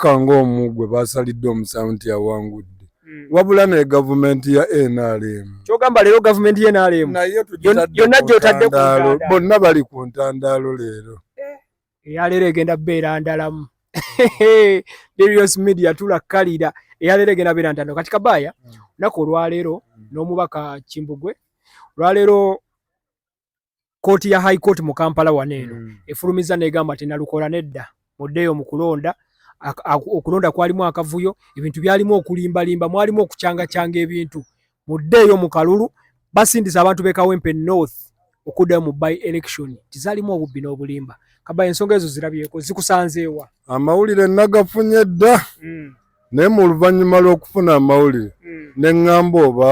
Kukka ng'omu gwe baasalidde omusango nti yawangudde hmm. wabula naye gavumenti ya nrm kyogamba leero gavumenti ya nrm naye yonna gyotadde kundaalo bonna bali ku ntandaalo leero eh, eyaleero egenda beera ndalamu Darius Media tulakkalira eyaleero egenda beera ntandalo kati kabaaya hmm. naku olwaleero hmm. n'omubaka kimbugwe olwaleero kooti ya high court mu kampala wano eno mm. efulumiza negamba ti nalukola nedda muddeeyo mu kulonda okulonda kwalimu akavuyo ebintu byalimu okulimbalimba mwalimu okucangacanga ebintu muddeeyo mu kalulu basindisa abantu bekawempe north okuddayo mu by election tizalimu obubbi n'obulimba kaba ensonga ezo zirabyeko zikusanzeewa amawulire nagafunye dda mm. naye mu luvannyuma lw'okufuna amawulire hmm. ne ŋŋamba oba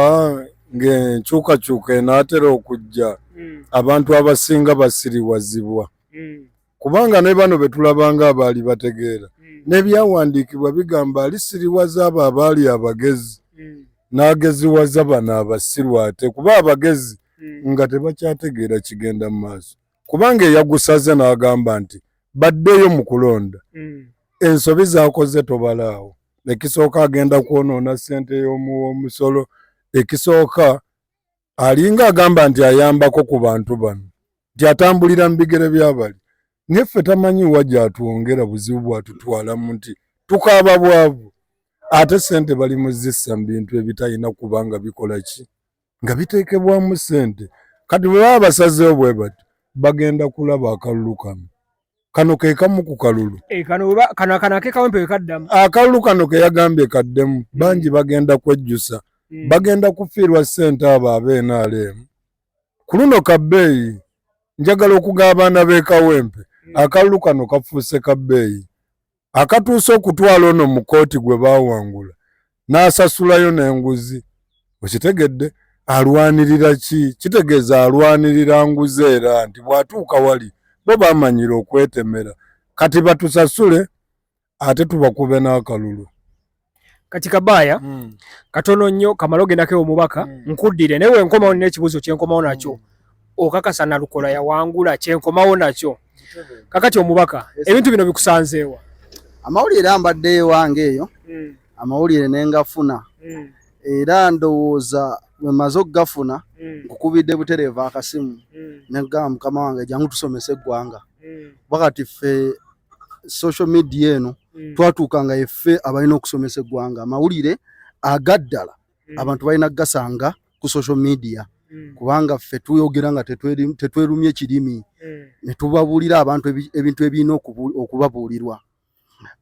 ng'enkyukakyuka enaatera okujja hmm. abantu abasinga basiriwazibwa hmm. kubanga ne bano be tulabanga abaali bategeera n'ebyawandiikibwa bigamba alisiriwaza abo abaali abagezi n'ageziwaza bano abasiru ate kuba abagezi nga tebakyategeera kigenda mu maaso kubanga eyagusaze n'agamba nti baddeyo mu kulonda mm. ensobi zakoze tobalaawo ekisooka agenda kwonoona ssente y'omusolo ekisooka alinga agamba nti ayambako ku bantu bano nti atambulira mu bigere byabali naye ffe tamanyi wa gyatwongera buzibu bwatutwalamu nti tukaaba bwavu ate ssente bali muzissa mu bintu ebitalina kubanga bikola ki nga biteekebwamu ssente kati bwe baba basazeewo bwe bati bagenda kulaba akalulu kano kano ke kamu ku kalulu eh, akalulu kano ke yagambye kaddemu hmm. bangi bagenda kwejjusa hmm. bagenda kufiirwa ssente abo abeenaaleemu ku luno kabbeeyi njagala okuga abaana b'ekawempe hmm. akalulu kano kafuuse kabbeeyi akatuusa okutwala ono mu kooti gwe baawangula n'asasulayo n'enguzi okitegedde alwanirira ki kitegeeza alwanirira nguzi era nti bw'atuuka wali bo bamanyira okwetemera kati batusasule ate tubakuube n'akalulu kati kabaya mm. katono nnyo kamala ogendako ewo mubaka mm. nkuddire naye wenkomawo nina ekibuuzo kyenkomawo nakyo mm. okakasa nalukola yawangula kyenkomawo nakyo kakati omubaka yes, ebintu bino bikusanzeewa amawulire ambadde ewange eyo mm. amawulire nengafuna mm. era ndowooza wemaze okugafuna mm. nkukubidde mm. butereeva akasimu mm. negamba mukama wange jangu tusomese eggwanga mm. wakati ffe social media eno mm. twatuukanga effe abalina okusomesa eggwanga amawulire agaddala mm. abantu balina kugasanga ku social media mm. kubanga ffe tuyogera nga tetwerumye kirimi mm. ne tubabuulira abantu ebintu ebirina okubabuulirwa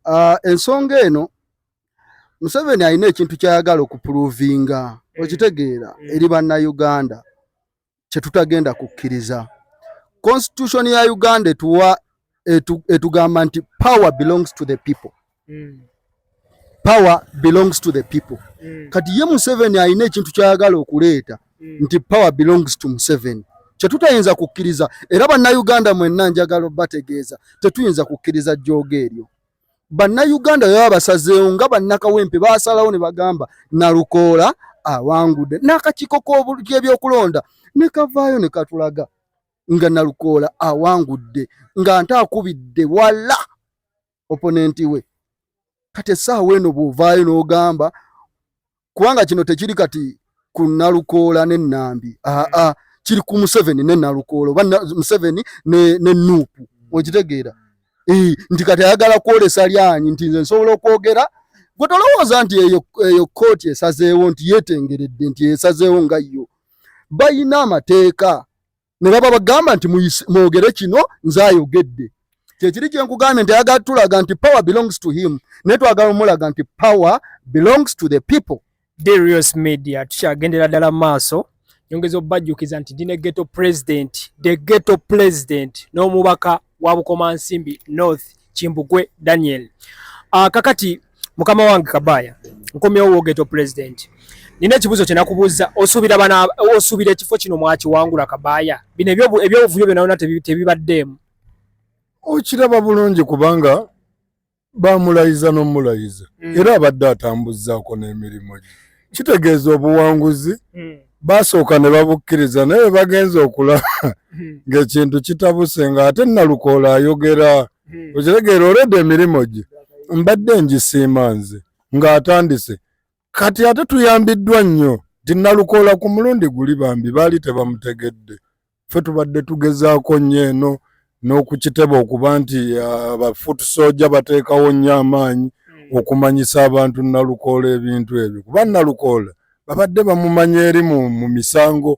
uh, ensonga eno Museveni alina ekintu kyayagala okupuluvinga mm. okitegeera mm. eri bannayuganda kye tutagenda kukkiriza. Constitution ya Uganda etuwa etugamba nti power belongs to the people. Mm. Power belongs to the people. Mm. Kati ye Museveni alina ekintu kyayagala okuleeta mm. nti power belongs to Museveni kyetutayinza kukkiriza era bannayuganda mwenna njagala obategeeza tetuyinza kukkiriza jjooga eryo. bannayuganda baba basazeewo nga bannakawempe basalawo ne bagamba nalukoola awangudde n'akakiiko k'ebyokulonda ne kavaayo ne katulaga nga nalukoola awangudde nga nte akubidde wala oponenti we kati essaawa eno bw'ovaayo n'ogamba kubanga kino tekiri kati ku nalukoola ne nambi aa ah, ah, kiri ku museveni ne nalukoola oba museveni ne, ne nuupu mm. okitegeera mm. nti kati ayagala kwolesa lyanyi nti nze nsobola okwogera gwe tolowooza nti eyo, eyo kooti esazeewo nti yetengeredde nti esazeewo nga yo bayina amateeka ne baba bagamba nti mwogere kino nze ayogedde kyekiri kyenkugambye nti ayagala tulaga nti power belongs to him naye twagala omulaga nti power belongs to the people darius media tukyagendera ddala mu maaso nyongeza obajjukiza nti ndi ne geto president the geto president n'omubaka wa bukomansimbi north Kimbugwe Daniel. Uh, kakati mukama wange Kabaya nkomyewo wogeto president nina ekibuzo kyenakubuza osubira bana osubira ekifo kino mwaki wangula Kabaya bino ebyo ebyovuyo byona ona tebibaddemu okiraba bulungi kubanga bamulayiza nomulayiza mm. era abadde atambuzaako n'emirimu gye kitegeeza obuwanguzi hmm. basooka ne babukkiriza naye bagenza okulaba hmm. ng'ekintu kitabuse nga ate nalukoola ayogera hmm. okitegeera olwedde emirimu gye mbadde ngisiima nze ng'atandise kati ate tuyambiddwa nnyo nti nalukoola ku mulundi guli bambi baali tebamutegedde Ffe tubadde tugezaako nnyo eno n'okukiteba okuba nti abafutu uh, soja bateekawo nnyo amaanyi hmm. okumanyisa abantu nalukoola ebintu ebyo kuba nalukoola babadde bamumanya eri mu misango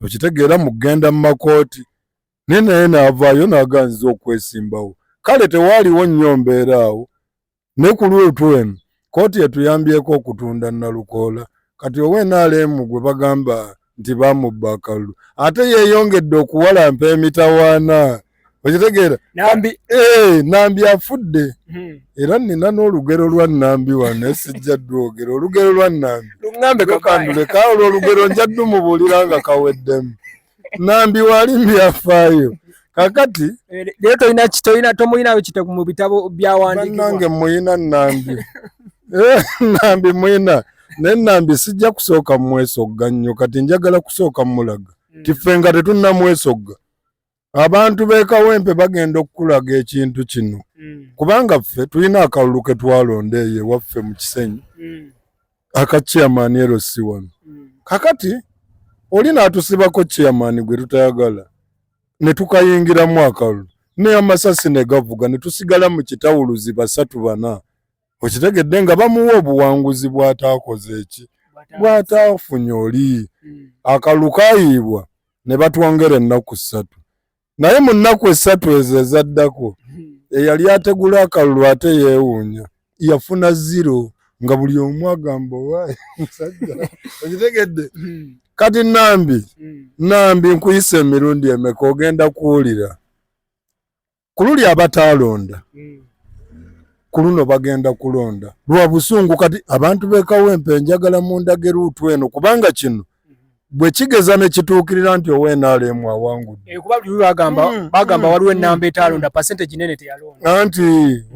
okitegeera mu kugenda mu makooti naye naye naavaayo naaganziza okwesimbawo kale tewaaliwo nnyo mbeera awo ne ku luutu eno kkooti etuyambyeko okutunda nalukoola kati owa nrm gwe bagamba nti bamubba akalulu ate yeeyongedde okuwalampa emitawaana okitegeera nambi eh, nambi afudde hmm. era nina n'olugero lwa nambi wano esijja dwogera olugero lwa nambi luŋambekakanduleka olwo olugero njaddu mubuulira nga kaweddemu nambi wali mbyafaayo kakati eh, naye tolina kitolina tomulinayo kite mu bitabo byawandiikibwanange muyina nambi eh, nambi muyina naye nambi sijja kusooka mumwesogga nnyo kati njagala kusooka mumulaga hmm. tife nga tetunnamwesogga abantu bekawempe bagenda okukulaga ekintu kino hmm. kubanga ffe tulina akalulu ketwalonda eyo ewaffe mu kisenyi hmm. aka chairman ero si wano mm. kakati oli natusibako chairman gwe tutayagala ne tukayingira mwaka lu ne amasasi ne gavuga ne tusigala mu kitawuluzi basatu bana okitegedde nga bamuwa obuwanguzi bwatakoze eki bwatafunye oli mm. akalukayiibwa ne batwongera ennaku ssatu naye mu nnaku essatu ezo ezaddako hmm. eyali ategula akalulu ate yeewuunya yafuna ziro nga buli omu agamba owaayi musajja okitegedde hmm. kati nambi hmm. nambi nkuyisa emirundi emeka ogenda kuwulira ku luli abataalonda ku luno bagenda kulonda lwa busungu kati abantu bekawempe njagala mundage luutu eno kubanga kino bwe kigeza ne kituukirira nti owa nrm awangudde eh, kuba buli bagamba hmm, bagamba hmm, waliwo hmm. ennamba etaalonda percentage nene teyalonda anti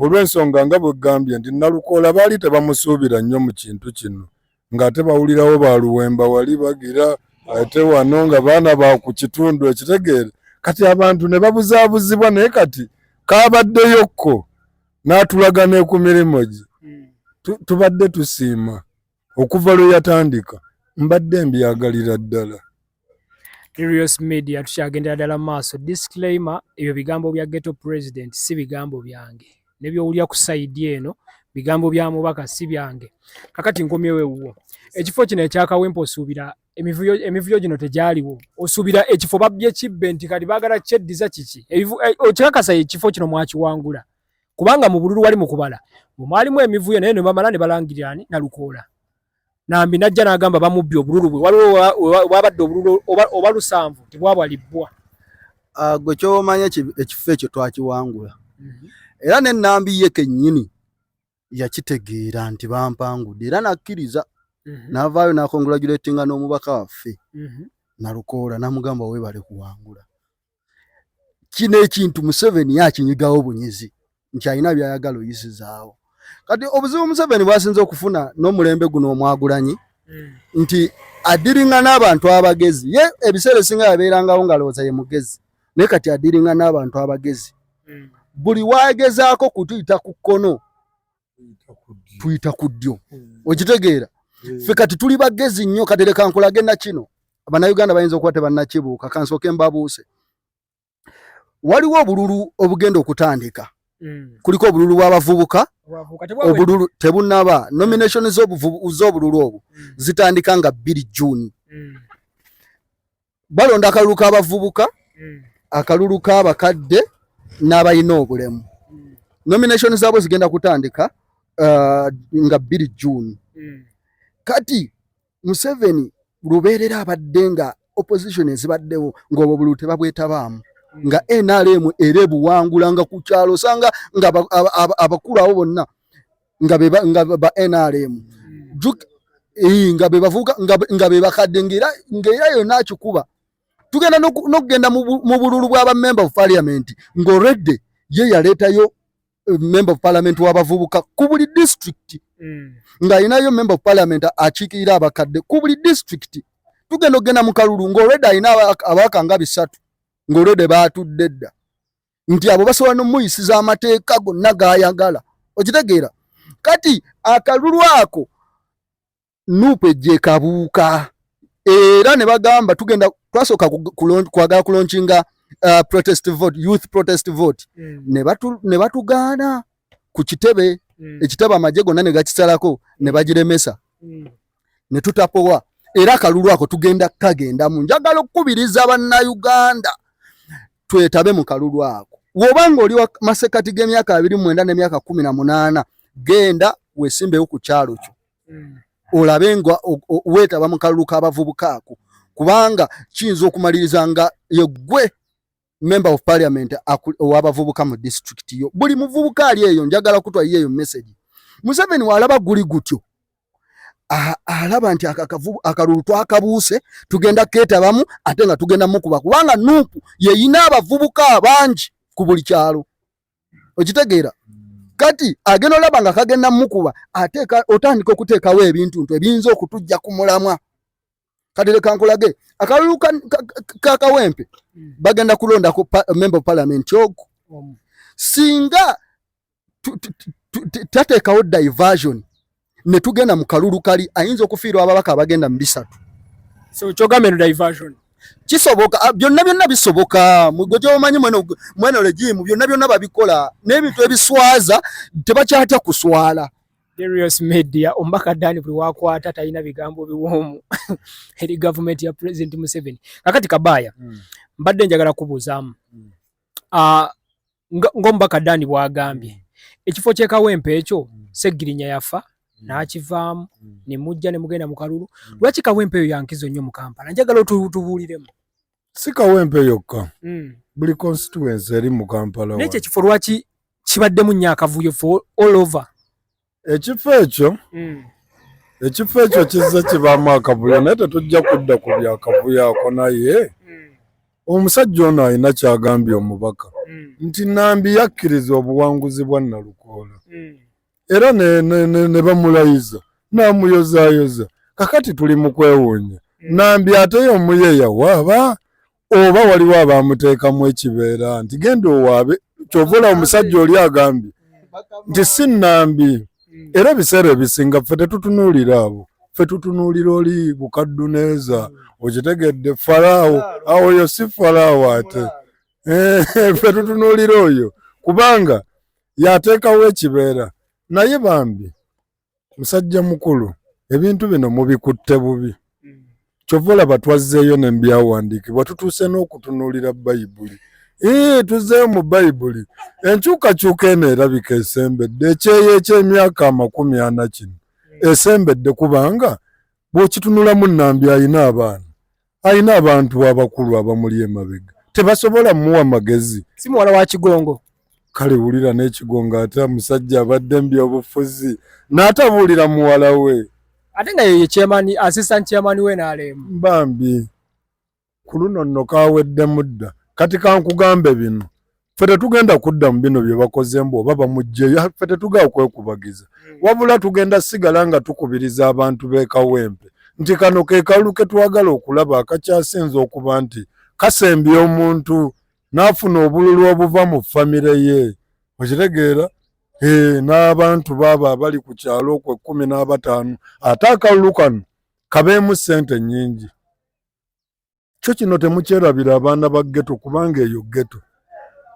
olw'ensonga nga bwe gambye nti nalukoola baali tebamusuubira nnyo mu kintu kino ng'ate bawulirawo ba luwemba wali bagira ate wano nga baana ba ku kitundu ekitegeere kati abantu ne babuzaabuzibwa naye kati kaabaddeyo kko n'atulaga ne ku mirimu gye tubadde tusiima okuva lwe yatandika mbadde mbyagalira ddala Curious Media tukyagendera ddala mu maaso disclaimer ebyo bigambo bya ghetto president si bigambo byange ne byowulya ku sayidi eno bigambo bya mubaka si byange kakati nkomyewo ewuwo ekifo kino ekyakawempa osuubira emivuyo emivuyo gino tegyaliwo osuubira ekifo babbye kibbe nti kati baagala kyeddiza kiki eh, okikakasa ekifo kino mwakiwangula kubanga mu bululu wali mu kubala mwe mwalimu emivuyo naye ne bamala ne balangirira ani Nalukoola nambi najja n'agamba bamubbye obululu bwe waliwo wabadde obululu oba lusanvu tebwabwalibbwa ah, gwe kyomanya ekifo ekyo twakiwangula mhm. era ne nambi ye kennyini yakitegeera nti bampangudde era nakkiriza mhm. n'avaayo n'akongulajuletinga n'omubaka waffe mhm. nalukoola namugamba webale kuwangula kino ekintu museveni yakinyigawo bunyizi nti alina byayagala oyisizaawo kati obuzibu museveni bwasinza okufuna n'omulembe guno omwagulanyi mm. nti adiringa n'abantu abagezi ye ebiseera esinga yabeerangawo ngaalowooza ye mugezi naye kati adiringa n'abantu abagezi hmm. buli wagezaako kutuyita ku kkono tuyita ku ddyo hmm. okitegeera hmm. fe kati tuli bagezi nnyo kati leka nkulage na kino abanauganda bayinza okuba tebannakibuuka kansooke mbabuuse waliwo obululu obugenda okutandika kuliko obululu bw'abavubuka obululu tebunaba nomination z'obululu obwo zitandika nga bbiri juuni balonda akalulu k'abavubuka hmm. akalulu k'abakadde n'abalina obulemu hmm. nomination zaabwe zigenda kutandika uh, nga bbiri june hmm. kati museveni lubeerera abadde nga opposition ezibaddewo ng'obwo obululu tebabwetabaamu nga nrm era ebuwangula nga ku kyalo osanga nga abakulu abo bonna nga be nga ba NRM hmm. juk eh nga be bavuka nga nga be bakadde ngira ngira yo nakikuba tugenda nokugenda mu bululu bwa ba member of parliament ngo red ye yaleta yo eh, member of parliament wa bavubuka ku buli district hmm. nga inayo member of parliament achikira abakadde ku buli district tugenda ogenda mu kalulu ngo red ina abaka nga bisatu ngo red batudde dda nti abo basobola nomuyisiza amateeka gonna gayagala okitegeera kati akalulu ako nuupu ejja ekabuuka era ne bagamba tugenda twasooka kwagala kulonkinga uh, protest vote youth protest vote mm. ne batugaana ku kitebe mm. ekitebe amagye gonna ne gakisalako ne bagiremesa mm. ne tutapowa era akalulu ako tugenda kukagenda mu njagala okukubiriza bannayuganda twetabe mu kalulu ako woba nga oli masekati g'emyaka abiri mwenda n'emyaka kumi na munaana genda wesimbewo ku kyalo kyo hmm. olabe nga weetaba mu kalulu k'abavubuka ako kubanga kiyinza okumaliriza nga yegwe member of parliament owabavubuka mu district yo buli muvubuka ali eyo njagala kutwa yeyo message museveni walaba guli gutyo alaba nti akakavu akalulu twakabuuse tugenda ketabamu ate nga tugenda mukuba kubanga nupu yeyina abavubuka abangi ku buli kyalo okitegeera kati agenda olaba nga kagenda mukuba ate otandika okuteekawo ebintu ntu ebiyinza okutujja ku mulamwa kati leka nkulage akalulu ka kawempe hmm. bagenda kulondako member of parliament ogu singa tateekawo diversion ne tugenda mu kalulu kali ayinza okufiirwa ababaka abagenda mu bisatu so kyogamba eno diversion kisoboka ah, byonna byonna bisoboka mugwe gyomanyi mweno legimu byonna byonna babikola n'ebintu ebiswaza tebakyatya kuswala Darius Media omubaka Dani buli wakwata talina bigambo biwoomu eri gavumenti ya President Museveni. Kakati Kabaya mm. mbadde njagala kubuuzaamu mm. uh, ng'omubaka Dani bwagambye mm. ekifo ky'e Kawempe ekyo mm. Ssegirinya yafa mm. n'akivaamu mm. ne mujja ne mugenda mu kalulu mm. lwaki Kawempe eyo yankizo nnyo mu Kampala njagala otubuuliremu. si kawempe yokka mm. buli constituency eri mu kampala naye kyekifo lwaki kibaddemu nnyo akavuyo for all over ekifo ekyo mm. ekifo ekyo kizze kibaamu akavuyo naye tetujja kudda ku byakavuyo ako naye mm. omusajja ono alina kyagambye omubaka mm. nti nambi yakkiriza obuwanguzi bwa nalukoola mm. era ne bamulayiza n'amuyozaayoza kakati tuli mu kwewuunya hmm. nambi ate y'omuye yawaaba oba waliwo abaamuteekamu ekibeera nti genda owaabe kyovola omusajja oli agambye nti si nambi hmm. era ebiseera ebisinga ffe tetutunuulira abo ffe tutunuulira oli bukadduneeza hmm. okitegedde falaawo awoyo si falaawo ate eh, ffe tutunuulira oyo kubanga yateekawo ekibeera naye bambi musajja mukulu ebintu bino mubikutte bubi kyova olaba twazzeeyo ne mbyawandiikibwa tutuuse n'okutunuulira bayibuli ee tuzzeeyo mu bayibuli enkyukakyuka eno erabika esembedde ekyeyo eky'emyaka amakumi ana kino esembedde kubanga bw'okitunulamu nambi alina abaana alina abantu abakulu abamuli emabega tebasobola muwa magezi si muwala wa kigongo kale wulira n'ekigongo ate omusajja abadde mu byobufuzi n'atabuulira muwala we ate nga yeye chairman assistant chairman we n'alemu bambi ku luno nno kaweddemu dda kati kankugambe bino ffe tetugenda kudda mu bino bye bakoze mbu oba bamugjeyo ffe tetugenda kwekubagiza hmm. wabula tugenda sigala nga tukubiriza abantu b'ekawempe nti kano ke kalulu ke twagala okulaba akakyasinza okuba nti kasembya omuntu n'afuna obululu obuva mu famire ye okitegeera eh, n'abantu baabo abali ku kyalo okwo ekkumi n'abataano ate akalulu kano kabeemu ssente nnyingi kyo kino temukyerabira abaana ba geto kubanga eyo geto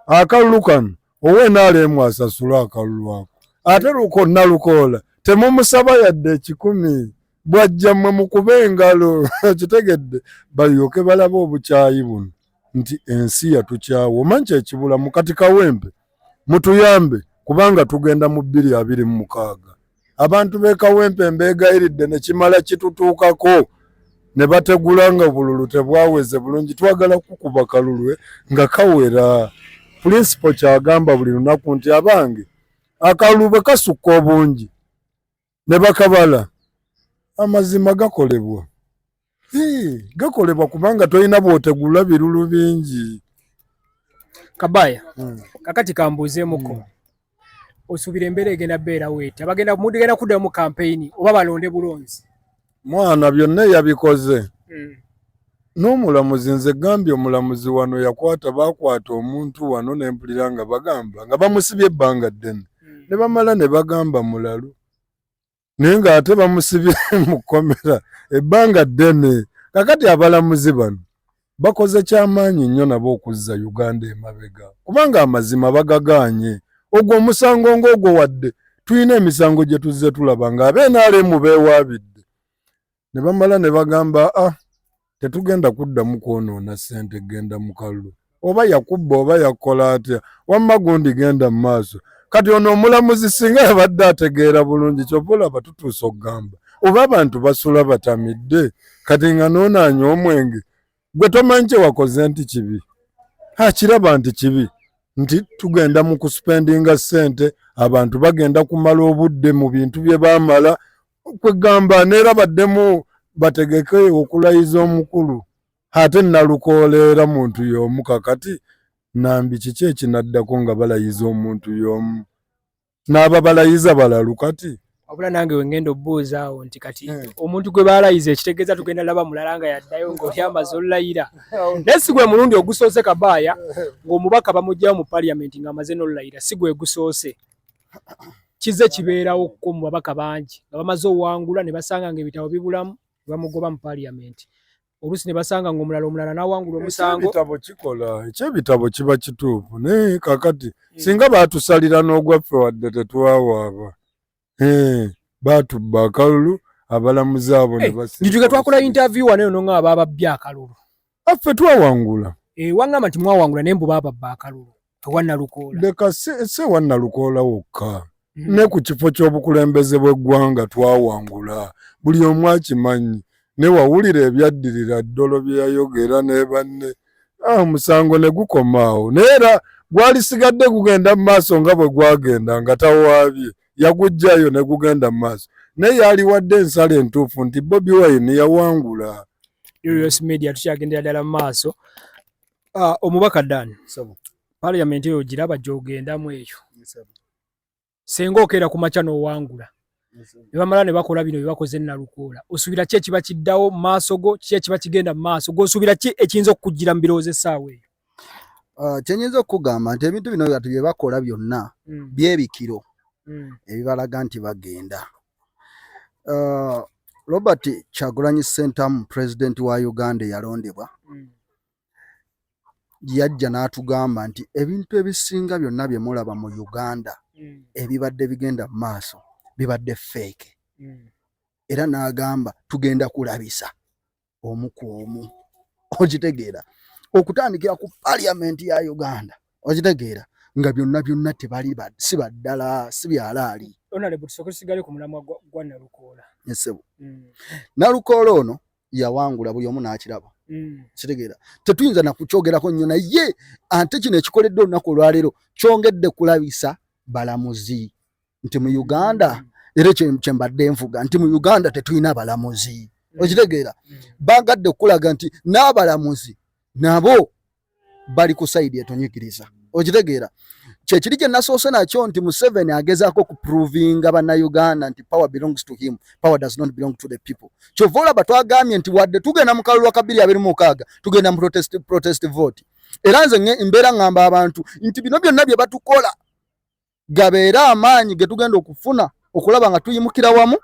akalulu kano owenaalemu asasula akalulu ako ate luko nalukoola temumusaba yadde ekikumi bwajja mwe mukube engalo okitegedde balyoke balaba obukyayi buno nti ensi yatukyawa omanyi kyekibulamu kati kawempe mutuyambe kubanga tugenda mu bbiri abiri mu mukaaga abantu b'e Kawempe mbeegayiridde ne kimala kitutuukako ne bategula nga bululu tebwaweze bulungi. Twagala kukuba kalulwe nga kawera. Pulinsipo ky'agamba buli lunaku nti abange akalulu bwe kasukka obungi ne bakabala amazima gakolebwa. gakolebwa kubanga tolina bwotegula birulu bingi kabaya hmm. kakati kambuuzeemuko hmm. osuubira embeera egenda beera weeti abagenda mugenda kuddayo mu kampeyini oba balonde bulonzi mwana byonna eyabikoze hmm. n'omulamuzi nze gambye omulamuzi wano yakwata bakwata omuntu wano nempulira nga bagamba nga bamusibye ebbanga ddene ne bamala ne bagamba mulalu naye ng'ate bamusibye mu kkomera ebbanga ddene kakati abalamuzi bano bakoze kyamaanyi nnyo nabo okuzza uganda emabega kubanga amazima bagagaanye ogwo omusango ng'ogwo wadde tulina emisango gye tuzze tulaba ng'abeenaalemu beewaabidde ne bamala ne bagamba ah tetugenda kuddamu kwonoona ssente genda mu kalulu oba yakubba oba yakola atya wamma gundi genda mu maaso kati ono omulamuzi singa yabadde ategeera bulungi kyova olaba tutuusa okugamba oba abantu basula batamidde kati nga noonaanya omwenge gwe tomanyi kyewakoze nti kibi akiraba nti kibi nti tugenda mu kusipendinga ssente abantu bagenda kumala obudde mu bintu bye baamala kwegamba neera baddemu bategeke okulayiza omukulu ate nalukooleera muntu y'omu kakati nambi kiki ekinaddako nga balayiza omuntu y'omu n'aba balayiza balalu kati wabula nange wengenda obuuza awo nti kati hmm. omuntu gwe balayiza ekitegeeza tugenda laba mulala nga yaddayo ngaoli amaze olulayira naye si gwe mulundi ogusoose kabaaya ng'omubaka bamugyawo mu paliamenti ng'amaze n'olulayira si gwe gusoose kize kibeerawo ko mu babaka bangi nga bamaze owangula ne basanga nga ebitabo bibulamu ne bamugoba mu paliyamenti oluusi ne basanga nga omulala omulala nawangula omusango ekyebitabo kikola ekyebitabo kiba kituufu naye kakati hmm. singa batusalira n'ogwaffe wadde tetwawaaba eh, batubba akalulu abalamuzi abo ne eh, basi njuga twakola interview wano eno nga ababa bya kalulu affe twawangula eh, wangamba nti mwawangula naye mbu bababba akalulu ewanalukoola leka si ewanalukoola wokka hmm. ne ku kifo ky'obukulembeze bw'eggwanga twawangula buli omu akimanyi ne wawulira ebyaddirira ddolo bye yayogera ne banne ah, omusango ne gukomaawo naye era gwalisigadde gugenda mu maaso nga bwe gwagenda nga tawaabye yagujjayo ne gugenda mu maaso naye yaliwadde ensala entuufu nti bobi wine yawangula Erios mm. Media tukyagendera ddala mu maaso uh, omubaka Dan parliament eyo giraba gyogendamu eyo senga okeera ku makya n'owangula ne bamala ne bakola bino bye bakoze nalukoola osuubira ki ekiba kiddawo mu maaso go ki ekiba kigenda mu maaso g'osuubira ki ekiyinza okukuggira mu birowoozo essaawa eyo Ah, kyenyinza okugamba nti ebintu bino ati byebakola byonna mm. byebikiro mm. ebibalaga nti bagenda ah, robert kyagulanyi sentamu president wa uganda eyalondebwa mm. yajja n'atugamba nti ebintu ebisinga byonna bye mulaba mu uganda ebibadde bigenda mu maaso bibadde feeke era n'agamba tugenda kulabisa omu ku omu okitegeera okutandikira ku parliament ya uganda okitegeera nga byonna byonna tebali si baddala si byalaali esebo mm. nalukoola ono yawangula buli omu n'akiraba mm. kitegeera tetuyinza nakukyogerako nnyo naye ate kino ekikoledde olunaku olwaleero kyongedde kulabisa balamuzi nti mu uganda era ekyo kyembadde nvuga nti mu uganda tetulina balamuzi mm. okitegeera mm. bagadde okukulaga nti n'abalamuzi nabo bali ku sayidi etonyikiriza okitegeera kyekiri kye nasoose nakyo nti museveni agezaako okuprovinga bannayuganda nti power belongs to him power does not belong to the people kyova olaba twagambye nti wadde tugenda mu kalulu akabiri abiri mukaaga tugenda mu protest, protest vote era nze mbeera ngamba abantu nti bino byonna bye batukola gabeere amaanyi ge tugenda okufuna okulaba nga tuyimukira wamu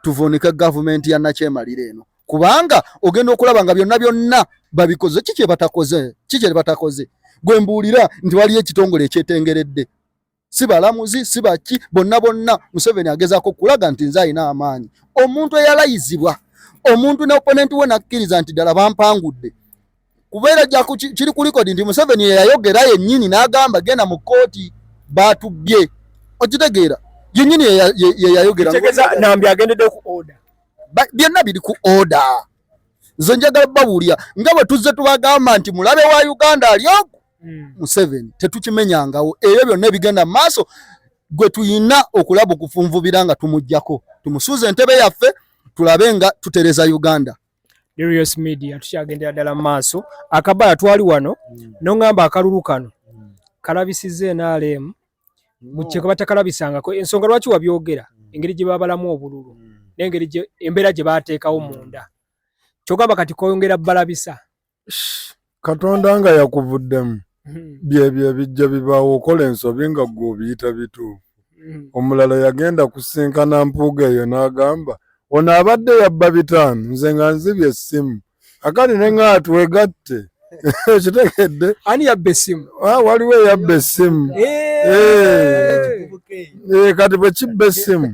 tuvuunike gavumenti ya nakyemalira eno kubanga ogenda okulaba nga byonna byonna babikoze ki kyebatakoze ki kyebatakoze gwe mbuulira nti waliyo ekitongole ekyetengeredde si balamuzi si baki bonna bonna museveni agezaako okulaga nti nze alina amaanyi omuntu eyalayizibwa omuntu ne oponenti we nakkiriza nti ddala bampangudde kubeera ja kiri ku likodi nti museveni yeyayogera yennyini n'agamba genda mu kkooti baatubbye okitegeera yennyini yeyayogera nambi agendedde ku oda byonna biri ku oda nze njagala babuulira nga bwe tuzze tubagamba nti mulabe wa uganda ali ogu hmm. museveni tetukimenyangawo ebyo byonna ebigenda mu maaso gwe tuyina okulaba okufunvubira nga tumugjako tumusuuza entebe yaffe tulabe nga tutereza uganda Darius Media tukyagendera ddala mu maaso akabala twali wano mm. nongamba akalulu kano mm. kalabisiza enalemu mukyeka batakalabisangako ensonga lwaki wabyogera mm. engeri gye babalamu obululu mm. nengeri embeera gye bateekawo mm. munda kyogamba kati koyongera balabisa katonda nga yakuvuddemu hmm. byebyo ebijja bibaawo okola ensobi nga gwe obiyita bituufu hmm. omulala yagenda kusinkana mpuuga eyo n'agamba ono abadde yabba bitaano nze nga nzibye essimu akali ne nga twegatte okitegedde ani yabba essimu ah, waliwo eyabba essimu eh. Eh. Eh, kati bwe kibba essimu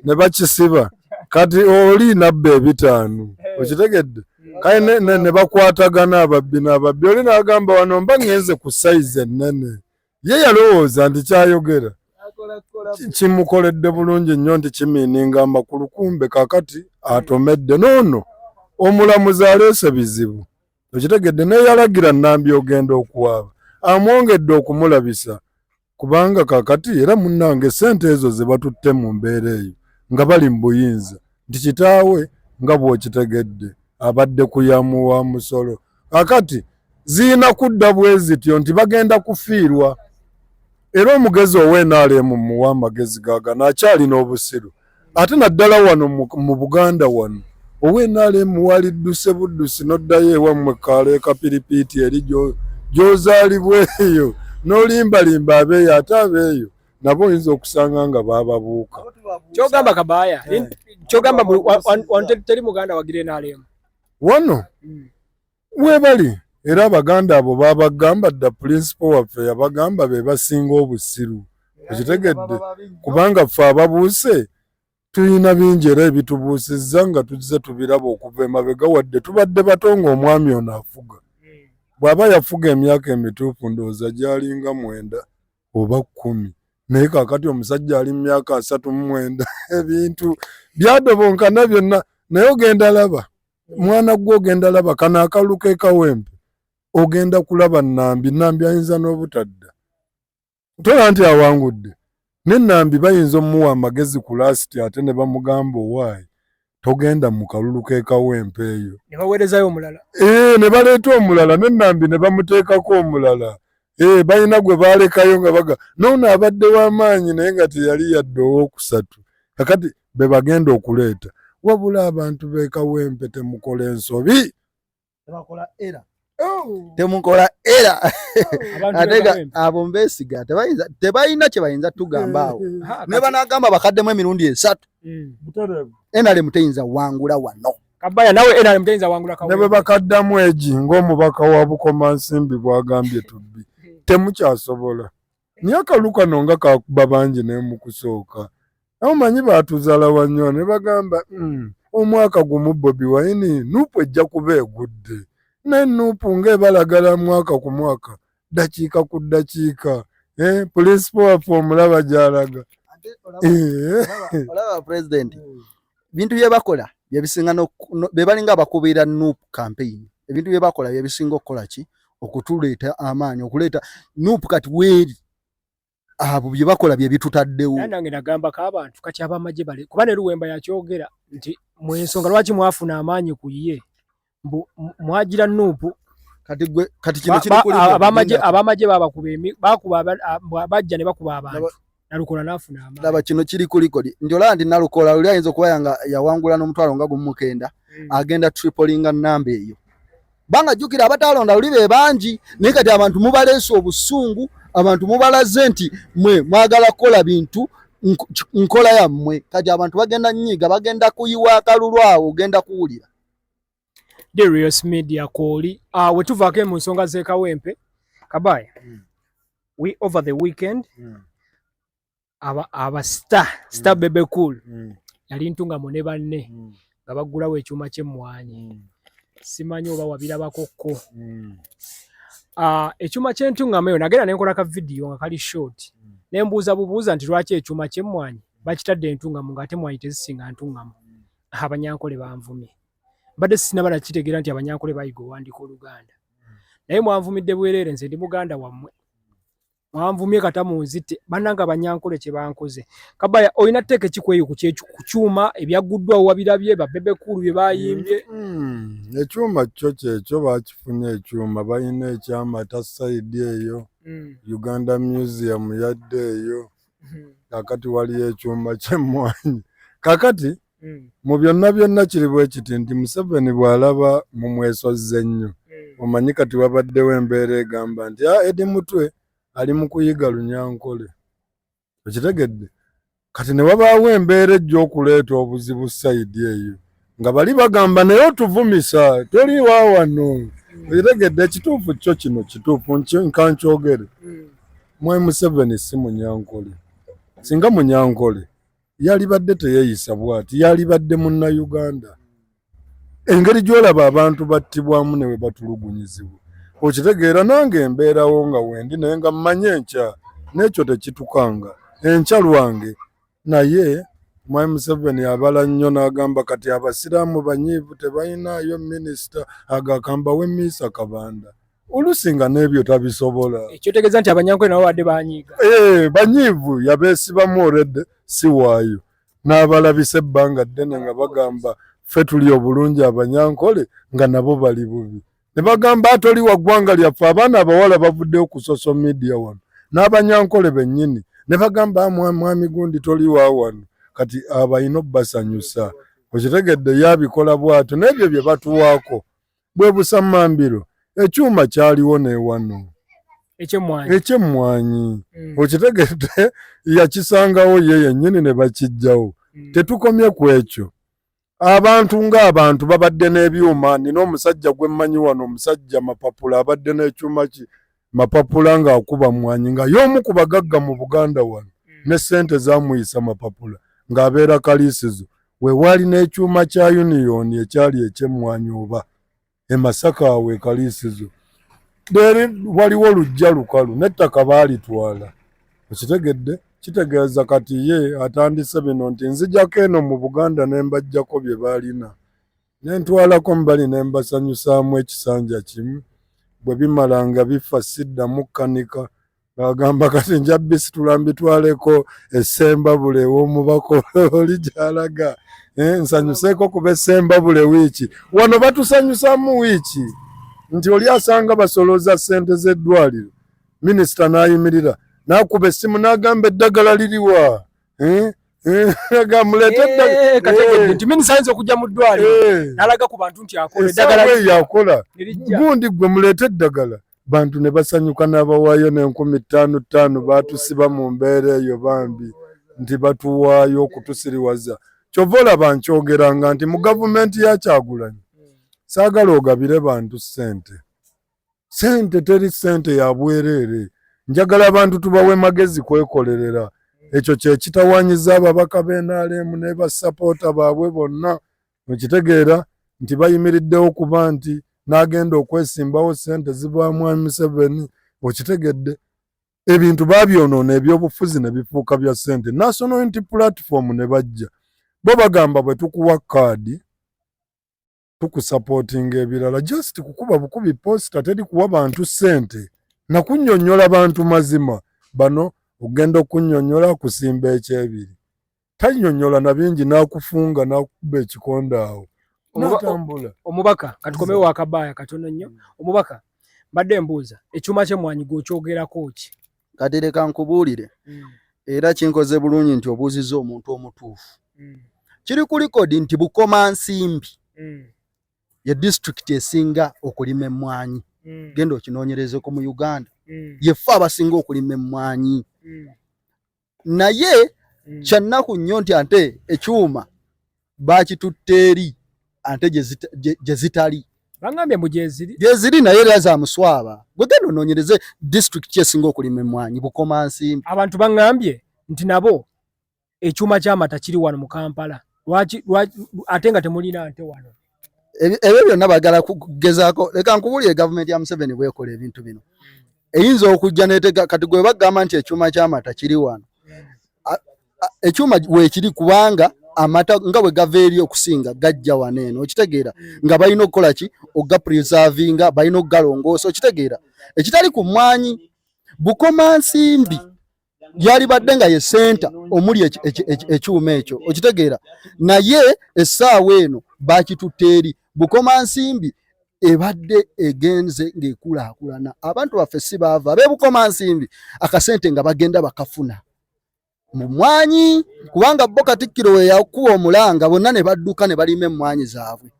ne bakisiba kati oli nabba ebitaano eh. okitegedde hmm. kale ne bakwatagana ababbi n'ababbi oli n'agamba wano mba ŋŋenze ku sayizi ennene ye yalowooza nti kyayogera kimukoledde bulungi nnyo nti kimiininga amakulu kumbe kakati atomedde noono omulamuzi aleese bizibu okitegedde neyalagira nambi ogenda okuwaaba amwongedde okumulabisa kubanga kakati era munnange ssente ezo ze batutte mu mbeera eyo nga bali mu buyinza nti kitaawe nga bw'okitegedde abadde kuyamu wa musolo kakati zirina kudda bwe zityo nti bagenda kufiirwa era omugezi ow'enaaleemu muwa amagezi gaagano akyalina obusiru ate naddala wano mu buganda wano ownrm walidduse buddusi noddayo ewammwe kaalo ekapiripiiti eri gyozaalibwa eyo nolimbalimba abeeyo ate abeeyo nabo oyinza okusanga nga bababuuka kyogamba kabaaya eh. kyogamba teri muganda wagira nrm wano hmm. Webali era abaganda abo babagamba dda pulinsipo waffe yabagamba be basinga obusiru okitegedde kubanga ffe ababuuse tulina bingi era ebitubuusizza nga tuzze tubiraba okuva emabega wadde tubadde bato nga omwami ono afuga bw'aba yafuga emyaka emituufu ndowooza gyalinga mwenda oba kkumi naye kakati omusajja ali mu myaka asatu mu mwenda ebintu byadobonkana byonna naye ogenda laba mwana gwe ogenda laba kano akalu kekawempe ogenda kulaba nambi nambi ayinza n'obutadda ntola nti awangudde ne nambi bayinza omuwa amagezi ku lasiti ate ne bamugamba owaayi togenda mu kalulu kekawempe eyo ne baweerezayo omulala ee eh, ne baleeta omulala ne nambi ne bamuteekako omulala Eh, balina gwe baalekayo nga baga noono abadde w'amaanyi naye nga teyali yadde owookusatu kakati be bagenda okuleeta wabula abantu beekawempe temukola ensobi tebakola era Oh. temukola era atega abo mbesiga tebalina kyebayinza tugamba awo eh, eh, eh. nebanagamba bakaddemu emirundi esatu enalemu teyinza wangula wano Kabaya nawe NRM tayinza wangula kawe. Nebe bakaddamu egi ng'omubaka wa Bukomansimbi bwagambye tubbi temukyasobola naye akalu kano nga kakuba bangi naye mu kusooka awo manyi baatuzala wannyo ne bagamba hmm, omwaka gumu Bobi Wine nuupu ejja kuba egudde naye nuupu ng'ebalagala mwaka ku mwaka ddakiika ku ddakiika eh, pulinsipo waffe omulaba gyalaga eh. olaba pulezidenti bintu bye bakola byebisinga be balinga abakubiira nup campaign ebintu bye bakola byebisinga okukola ki okutuleeta amaanyi okuleeta nup kati weeri abo bye bakola bye bitutaddewo. Nange nagamba ka abantu kati abamagye bale kuba ne Luwemba yakyogera nti mu ensonga lwaki mwafuna amaanyi ku ye mbu mwagira Nuupu kati gwe kati kino kiri kuli abamagye abamagye babakuba emi bakuba bajja ne bakuba abantu nalukola nafuna amaanyi. Laba kino kiri kuli kodi njola ndi nalukola luli ayinza okuba yanga yawangula n'omutwalo nga gumu mukenda hmm. agenda tripolinga namba eyo. banga jukira abatalonda luli be bangi naye kati abantu mubaleese obusungu abantu mubalaze nti mwe mwagala kukola bintu nkola yammwe kati abantu bagenda nyiiga bagenda kuyiwa akalulu awo ogenda kuwulira darius media kooli ah, wetuvaako mu nsonga z'ekawempe kabaye hmm. we over the weekend hmm. aba aba star star mm. bebe cool mm. yali ntunga mune banne mm. nga bagulawo ekyuma kye mwanyi mm. simanyi oba wabira bakokko mm. uh, ekyuma kye ntunga meyo nagera ne nkola ka video nga kali short mm. ne mbuza bubuza nti lwaki ekyuma kye mwanyi mm. bakitadde ntunga mu ngate mwanyi tezisinga ntunga mu mm. abanyankole banvumye bade sinaba na kitegera nti abanyankole bayigo wandiko luganda mm. naye mwanvumidde bwerere nze ndi muganda wamwe mwanvumye kata munzite bananga abanyankole kye bankoze kabaya olina teke kikweyo ku kyechu kuchuma ebyaguddwa wabirabye ba bebe kulu bye bayimbye mm, ekyuma kyo kyekyo bakifunye ekyuma balina ekyama ta side eyo mm. Uganda Museum yadde eyo mm. kakati waliyo ekyuma kyemmwanyi kakati hmm. mu byonna byonna kiri bwe kiti nti museveni bw'alaba mu mwesozze ennyo hmm. omanyi kati wabaddewo embeera egamba nti a ah, edi mutwe ali mu kuyiga lunyankole okitegedde kati ne wabaawo embeera ejja okuleeta obuzibu sayidi eyo nga bali bagamba naye otuvumisa toli wa wano hmm. okitegedde ekituufu kyo kino kituufu nkankyogere mwe museveni si munyankole singa munyankole yalibadde teyeyisa bwati yalibadde munna uganda engeri gyolaba abantu battibwamu newe batulugunyizibwa okitegeera nange embeerawo nga wendi naye nga mmanyi enkya n'ekyo tekitukanga enkya lwange naye my museveni abala nnyo n'agamba kati abasiraamu banyiivu tebalinayo minisita agakambawo emiisa kabanda olusi nga n'ebyo tabisobola. Ekyotegeeza nti abanyankole nabo badde banyiiga? Eh, banyiivu yabeesibamu oredde si waayo n'abalabisa ebbanga ddene nga bagamba ffe tuli obulungi abanyankole nga nabo bali bubi ne bagamba atoli wa ggwanga lyaffe abaana abawala bavuddeyo ku social media wano n'abanyankole bennyini ne bagamba ah, mwami gundi toli wa wano kati abalina obbasanyusa okitegedde yabikola bwatyo n'ebyo bye batuwaako bwe busammambiro ekyuma kyaliwo newano ekyemmwanyi mm. okitegedde yakisangawo ye yennyini ne bakijjawo mm. tetukomye ku ekyo abantu ng'abantu babadde n'ebyuma nina omusajja gwe mmanyi wano omusajja mapapula abadde n'ekyuma ki mapapula ng'akuba mmwanyi nga y'omu ku bagagga mu Buganda wano hmm. ne ssente zamuyisa mapapula ng'abeera kaliisizo wewaali n'ekyuma kya yuniyoni ekyali eky'emmwanyi oba e Masaka awo e kaliisizo leeri waliwo lujja lukalu n'ettaka baalitwala okitegedde kitegeeza kati ye atandise bino nti nzijako eno mu Buganda ne mbajjako bye baalina Ne ntwalako mu bali ne mbasanyusaamu ekisanja kimu, bwe bimala nga bifa siddamu kkanika. Ng'agamba kati nja bisitula mbitwaleko e Ssembabule ew'omubaka oli gy'alaga eh, nsanyuseeko kuba e Ssembabule wiiki. Wano batusanyusaamu wiiki nti oli asanga basolooza ssente z'eddwaliro minisita n'ayimirira n'akuba essimu n'agamba eddagala liriwa eh? Eh, eh, eh, nti minisanze okujja mu ddwaliro nalaga ku bantu nti akoyakola gundi gwe muleete eddagala bantu ne basanyuka n'abawaayo n'enkumi ttaano ttaano baatusiba mu mbeera eyo bambi nti batuwaayo okutusiriwaza kyova olaba nkyogeranga nti mu gavumenti yakyagulanyi saagala ogabire bantu ssente sente teri sente ya bwereere njagala abantu tubawe magezi kwekolerera ekyo kyekitawanyiza ababaka benalemu nebasapoota baabwe bonna mukitegeera nti bayimiriddewo kuba nti nagenda okwesimbawo sente ziva mwami museveni okitegedde ebintu babyonoona ebyobufuzi nebifuuka bya sente national unity platform ne bajja bo bagamba bwetukuwa kaadi tukusapotinga ebirala just kukuba bukubi posta teri kuwa bantu sente nakunyonyola bantu mazima bano ogenda okunyonyola kusimba ekyebiri tanyonyola nabingi nakufunga nakukuba ekikonda awo natambula omubaka katukomewo akabaya katono nnyo omubaka mbadde mbuuza ekyuma kyemwanyi gwokyogerako ki kati leka nkubuulire mm. era kinkoze bulungi nti obuuziza omuntu omutuufu mm. kiri ku likodi nti bukoma nsimbi mm. ye disitulikiti esinga okulima emmwanyi mm. genda okinoonyerezeko mu uganda mm. yefe abasinga okulima emmwanyi mm. naye mm. kyannaku nnyo nti ate ekyuma bakitutte eri ante gye zitali bangambye mbu gyeziri gyeziri naye era za muswaba gwe genda onoonyereze disitulikiti kyesinga okulima emmwanyi bukoma nsimbi abantu bangambye nti nabo ekyuma ky'amata kiri wano mu kampala lwaki ate nga temulina nte wano ebyo byonna bagala kugezaako leka nkubulire gavumenti ya museveni bwekola ebintu bino eyinza okujja netega kati gwe bagamba nti ekyuma ky'amata kiri wano ekyuma weekiri kubanga amata nga bwe gava eri okusinga gajja wano eno okitegeera nga balina okukola ki okugapreservinga balina okugalongoosa okitegeera ekitali ku mmwanyi bukomansimbi yalibadde nga ye senta omuli ekyuma ekyo okitegeera naye essaawa eno bakitutte eri bukomansimbi ebadde egenze ng'ekulaakulana abantu baffe si baava abebukomansimbi akasente nga bagenda bakafuna mu mwanyi kubanga bo Katikkiro we yakuwa omulanga bonna ne badduka ne balima emmwanyi zaabwe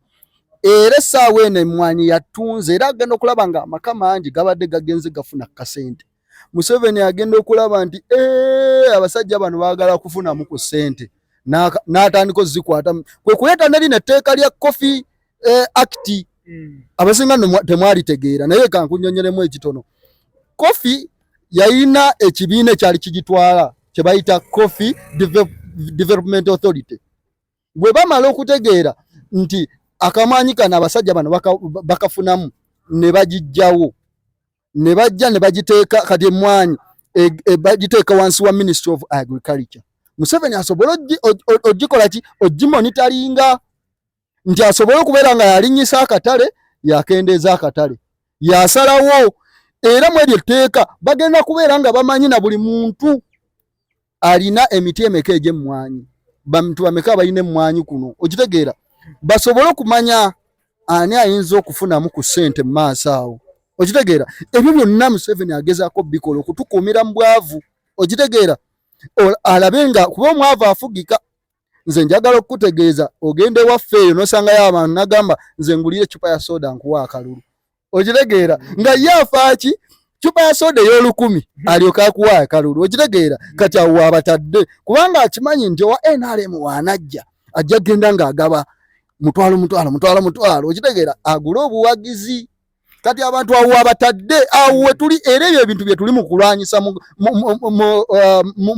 era essaawa eno emmwanyi yattunze era agenda okulaba nga amaka mangi gabadde gagenze gafuna kasente Museveni agenda okulaba nti eh, abasajja bano baagala kufunamu ku ssente n'atandika ozikwata kwe kuleeta neri netteeka lya kofi eh, akiti hmm. abasinga temwalitegeera naye kankunyonyolemu ekitono kofi yayina ekibiina ekyali kigitwala kyebayita coffee development authority bwe bamala okutegeera nti akamaanyi kano abasajja bano bakafunamu ne bagijjawo ne bajja ne bagiteeka kati emmwanyi e, e, bagiteeka wansi wa ministry of agriculture museveni asobole ogikola ki ogimonitaringa nti asobole okubeera nga yalinyisa akatale yakendeeza akatale yasalawo era mu eryo tteeka bagenda kubeera nga bamanyi na buli muntu alina emiti emeka egy'emmwanyi bantu bameka abalina emmwanyi kuno okitegeera basobole okumanya ani ayinza okufunamu ku ssente mu maaso awo okitegeera ebyo byonna museveni agezaako bikola okutukuumira mu bwavu okitegeera alabe nga kuba omwavu afugika nze njagala okukutegeeza ogenda ewaffe eyo nosangayo abantu nagamba nze ngulire ecupa ya soda nkuwa akalulu okitegeera nga ye afaaki cupa ya soda ey'olukumi alyoka akuwa akalulu okitegeera kati awo wabatadde kubanga akimanyi nti owa nrm wanajja ajja kugenda ng'agaba mutwalo mutwalo mutwalo mutwalo okitegeera agule obuwagizi kati abantu awo wabatadde awo wetuli era ebyo ebintu byetuli mu kulwanyisa mu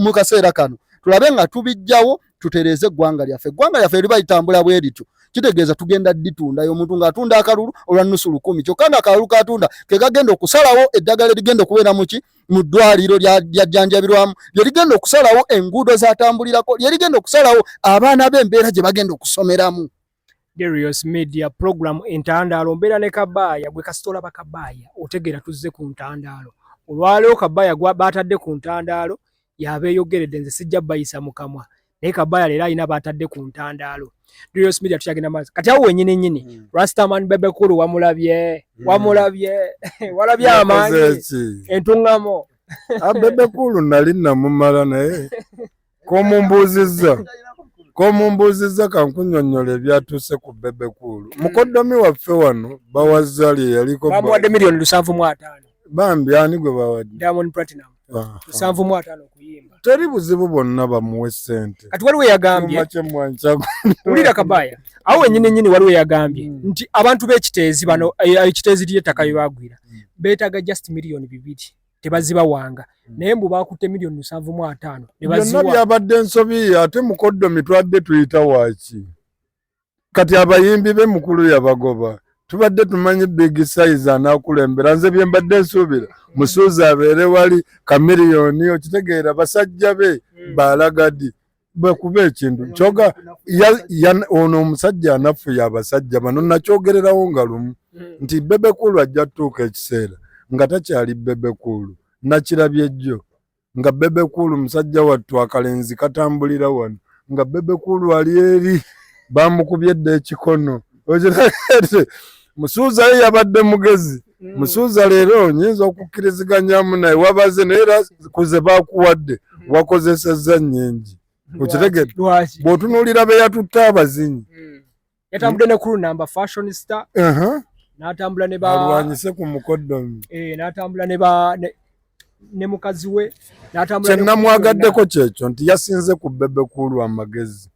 uh, kaseera kano tulabe nga tubijjawo tutereeze eggwanga lyaffe eggwanga lyaffe liba litambula bwe lityo kitegeeza tugenda ditundayo omuntu ng'atunda akalulu olwa nusu lukumi kyokka nga akalulu katunda ke kagenda okusalawo eddagala erigenda okubeera muki mu ddwaliro lyajjanjabirwamu lye rigenda okusalawo enguudo zatambulirako lye rigenda okusalawo abaana b'embeera gye bagenda okusomeramu Darius Media program entandaalo mbeera ne kabaaya gwe kasita olaba kabaaya otegeera tuzze ku ntandaalo olwaleero kabaaya baatadde ku ntandaalo yabeeyogeredde nze sijja bayisa mu kamwa naye kabaaya leero alina baatadde ku ntandaalo Darius Media tukyagenda maaso kati awo wenyini nyini hmm. Rastaman Bebekulu wamulabye hmm. wamulabye walabye amaanyi entungamo ah, Bebekulu nali namumala naye komumbuuzizza komumbuuzizza kankunyonyola ebyatuuse ku bebe kuulu mm. mukoddomi waffe wano bawa zali eyaliko bamuwadde miliyoni lusanvu mu ataano bambi ani gwe bawadde diamond platinum lusanvu mu ataano okuyimba teri buzibu bwonna bamuwe sente kati waliwo yagambye wulira kabaya awo wenyini nyini waliwo yagambye mm. nti abantu b'ekiteezi bano eh, ekiteezi ly'ettaka bye bagwira mm. beetaaga just miliyoni bibiri tebazibawanga hmm. naye mbu bakutte miliyoni musanvu mu ataano byonna byabadde nsobi ate mukoddomi twabadde tuyita waaki kati abayimbi be mukulu yabagoba tubadde tumanyi big size anakulembera nze bye mbadde nsuubira musuuza abeere wali kamiliyoni okitegeera basajja be hmm. baalagadi bwekuba ekintu kyoga ono omusajja anaffu yabasajja bano nakyogererawo nga lumu hmm. nti bebekulu ajja tuuka ekiseera nga takyali bebekulu nakirabye jjo nga bebekulu musajja wattu akalenzi katambulira wano nga bebekulu ali eri bamukubye dda ekikono musuuza ye yabadde mugezi mm. musuuza leero nyinza okukkiriziganyamu naye wabaze naye era kuze bakuwadde mm. wakozesezza nyingi okitegede bwotunuulira be yatutte abazinyi mm. yatambudde ne kulu namba fashion star n'atambula ne ba alwanyise ku mukoddomi eh, n'atambula ne ba ne mukazi we n'atambula kye namwagaddeko kyekyo nti yasinze ku bebe kuulu amagezi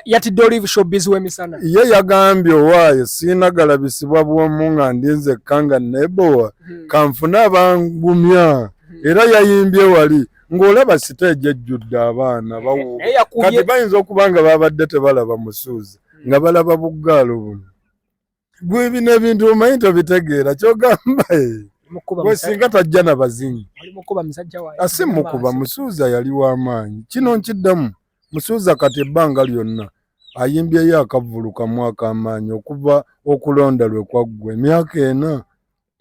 yatidde olive showbiz w'emisana ye yagambye owaaye siinagala bisibwa bwomu nga ndi nzekka nga nebowa hmm. kanfune abangumya hmm. era yayimbye wali ng'olaba siteegi ejjudde abaana eh, bawuuba eh, kati bayinza okuba nga babadde tebalaba musuuzi hmm. nga balaba buggaalo buno gwe bino ebintu omanyi tobitegeera kyogamba eh. gwe singa tajja na bazinyi asi mukuba musuuza yali w'amaanyi kino nkiddamu musuuza kati ebbanga lyonna ayimbyeyo akavvulu kamu ak'amaanyi okuva okulonda lwe kwaggwa emyaka ena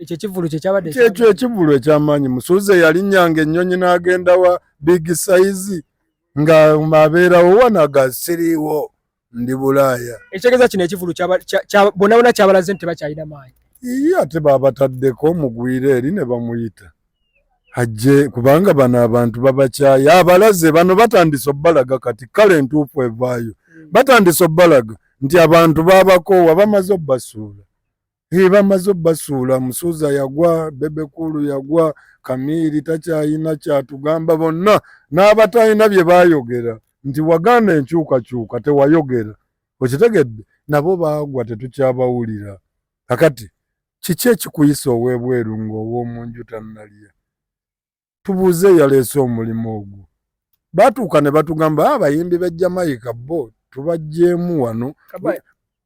ekyo ekivulu kyekyabadde kyekyo ekivulu ekyamaanyi musuuze yalinyanga ennyonyi n'agenda wa big size nga abeerawo wanaga siriiwo ndi bulaaya ekitegeeza kino ekivulu bonabona kyabalaze nti tebakyalina maanyi iye ate babataddeko mugwire eri ne bamuyita ajje kubanga bano abantu babakyaya abalaze bano batandise obbalaga kati kale entuufu evaayo hmm. batandise obbalaga nti abantu babakoowa bamaze obbasuula Hey, bamaze obasuula musuuza yagwa bebekulu yagwa kamiiri takyayina kyatugamba bonna n'abatalina bye baayogera nti waganda enkyukakyuka tewayogera okitegedde nabo baagwa tetukyabawulira kakati kiki ekikuyisa ow'ebweru ng'ow'omu nju tannalya tubuuze eyaleese omulimu ogwo batuuka ne batugamba ah, abayimbi be jamaica bo tubajjeemu wano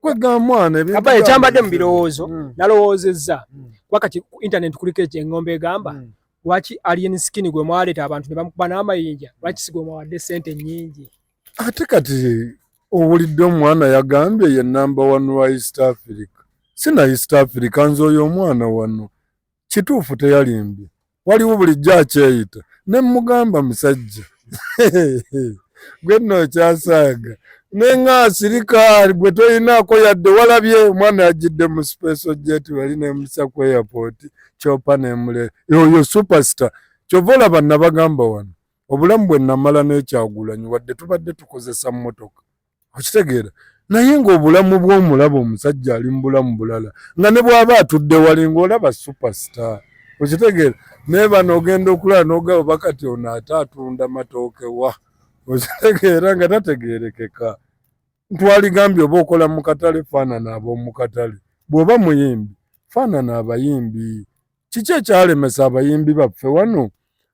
kwegamwanaaba ekyambadde mu birowoozo hmm. nalowoozezza hmm. kuba kati ku intaneti kuliko ekyengombe egamba hmm. lwaki alien skin gwe mwaleeta abantu ne bamukuba n'amayinja lwaki si gwe mwawadde sente nyingi ate kati owulidde omwana yagambye ye namba wanu wa east africa sina east africa nze oyo omwana wano kituufu teyalimbye waliwo bulijjo akyeyita ne mugamba musajja gwe nno okyasaaga naye nga asirika gwe toyinaako yadde walabye omwana yajjidde mu special jet wali nemusa ku airport kyopa nemule oyo superstar kyova olaba nabagamba wano obulamu bwe namala nekyagulanyi wadde tubadde tukozesa mmotoka okitegeera naye ng'obulamu bw'omulaba omusajja ali mu bulamu bulala nga ne bw'aba atudde wali ng'olaba superstar okitegeera naye bano ogenda okulaba n'ogaba bakati ono ate atunda matooke wa okitegeera nga tategeerekeka ntwaligambye oba okola mu katale faanana ab'omu katale bw'oba muyimbi faanana abayimbi kiki ekyalemesa abayimbi baffe wano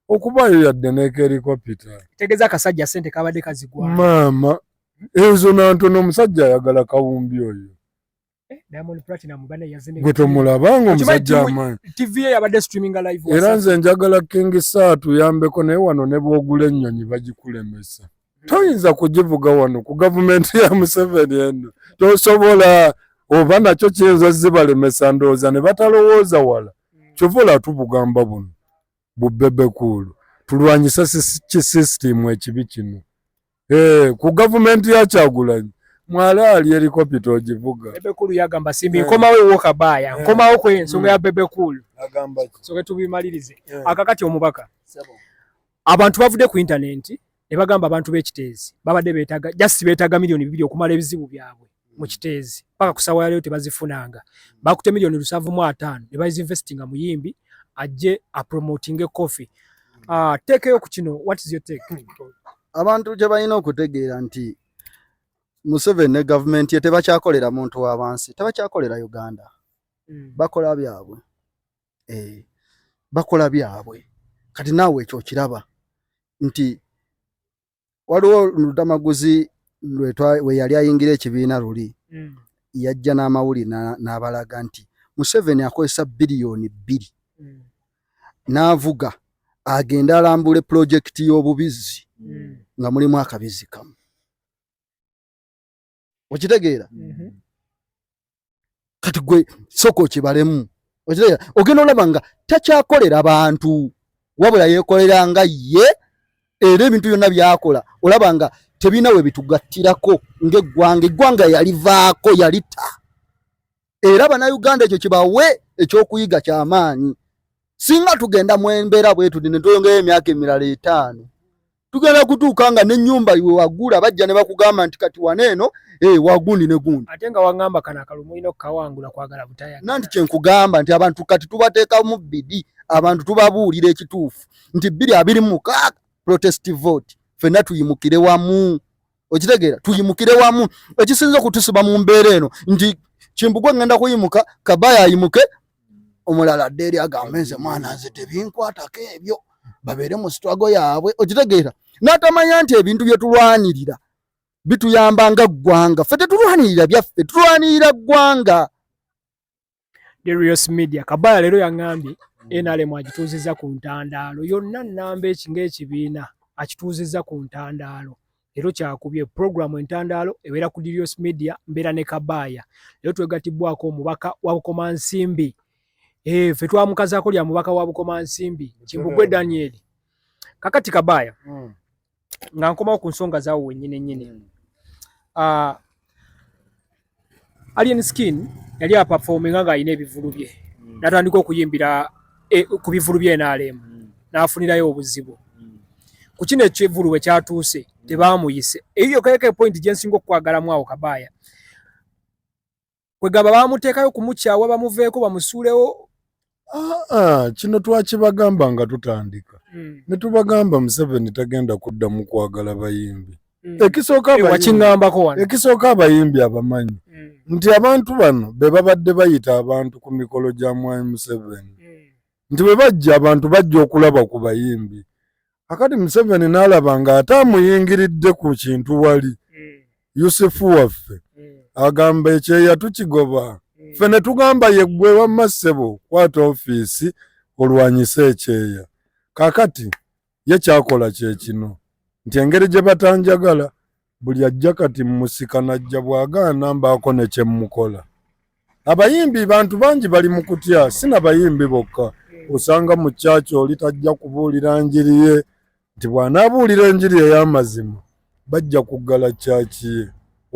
okubaayo yadde nekerikopita tegeza akasajja sente kabadde kazigwa maama ezo nantono omusajja ayagala kawumbi oyo eh, gwe tomulaba nga omusajja amaanyi era nze njagala kingi saatu yambeko naye wano ne bwogula ennyonyi bagikulemesa toyinza kugivuga wano ku gavumenti ya museveni eno tosobola oba nakyo kiyinza zibalemesa ndowooza ne batalowooza wala kyova olatubugamba buno bubebekuulu tulwanyise kisisitimu ekibi kino eh, ku gavumenti ya kyagulanyi mwala ali helikopita ogivuga bebekulu yagamba simbi eh. nkomawo ewoka baaya eh. nkomawo ku ensonga ya bebekulu soke tubimalirize akakati omubaka Abantu bavude ku internet ne bagamba abantu be Kiteezi babade betaga just betaga milioni bibiri okumala ebizibu byabwe mu mm. Kiteezi paka kusawa yale yote bazifunanga mm. bakute milioni lusavu mu atano ne bazi investing mu yimbi aje a promoting a coffee mm. ah uh, take yo kukino what is your take abantu je bayina okutegeera nti Museveni ne government ye tebakyakolera muntu wa bansi tebakyakolera Uganda mm. bakola byabwe eh, bakola byabwe kati naawe ekyo okiraba nti waliwo ludamaguzi weyali ayingira ekibiina luli mm. yajja n'amawuli n'abalaga nti museveni akozesa biliyoni bbiri mm. n'avuga agenda alambule pulojekiti y'obubizzi mm. nga mulimu akabizi kamu okitegeera mhm. kati gwe soko kibalemu okitegeera ogenda olaba nga takyakolera bantu wabula yekolera nga ye era ebintu byonna byakola olaba nga tebina we bitugattirako ngaeggwanga eggwanga yalivaako yalita era banauganda ekyo kibawe ekyokuyiga kyamaanyi singa tugenda mwembeera bwetudi netweyongeyo emyaka emirala etaano tugenda kutuuka nga nenyumba iwe wagula bajja ne bakugamba nti kati wana eno eh, wagundi ne gundi ate nga wangamba kana akalumu olina okukawangula kwagala butaya nanti kyenkugamba nti abantu kati tubateeka mu bidi abantu tubabuulira ekituufu nti biri abiri mukaaga protest vote fenna tuyimukire wamu okitegeera tuyimukire wamu ekisinza okutusiba mu mbeera eno nti kimbugwe ngenda kuyimuka kabaya ayimuke omulala adde eri agambe nze mwana nze tebinkwatako ebyo babeere mu sitwago yaabwe okitegeera n'atamanya nti ebintu bye tulwanirira bituyamba nga ggwanga ffe tetulwanirira byaffe tulwanirira ggwanga Darius Media Kabala leero yang'ambye mm. NRM agituuzizza ku ntandaalo yonna nnamba eki ng'ekibiina akituuzizza ku ntandaalo leero kyakubye pulogulaamu entandaalo ebeera ku Darius Media mbeera ne Kabaaya leero twegatibbwako omubaka wa Bukomansimbi eh, ffe twamukazaako lya mubaka wa Bukomansimbi Kimbugwe Daniel kakati Kabaaya mm. nga nkomawo ku nsonga zaawo wennyini nnyini mm. ah, alien skin yali apafominga ng'alina ebivulu bye mm. natandika okuyimbira eh, ku bivulu bye nrm mm. n'afunirayo obuzibu ku kino ekivulu we kyatuuse tebaamuyise eyo yokayoko epointi gye nsinga okukwagalamu awo kabaaya kwegamba bamuteekayo kumukyawa bamuveeko bamusuulewo aa kino twakibagamba nga tutandika hmm. ne tubagamba museveni tagenda kuddamu kwagala bayimbi hmm. ekisookaekisooka eh, eh, abayimbi abamanyi hmm. nti abantu bano be babadde bayita abantu ku mikolo gya mwami museveni nti bwe bajja abantu bajja okulaba ku bayimbi akati museveni nalaba nga ate amuyingiridde ku kintu wali mm. yusufu waffe mm. agamba ekyeya tukigoba mm. fe ne tugamba yeggwe wamma ssebo kwata ofiisi olwanyise ekyeya kakati ye kyakola kyekino nti engeri gye batanjagala Buli ajja kati mmusika najja bw'agaana mbaako ne kye mmukola. Abayimbi bantu bangi bali mu kutya, si na bayimbi bokka. Osanga mu kyaki oli tajja kubuulira njiri ye nti bw'anaabuulira enjiri ey'amazima bajja kuggala kyaki ye,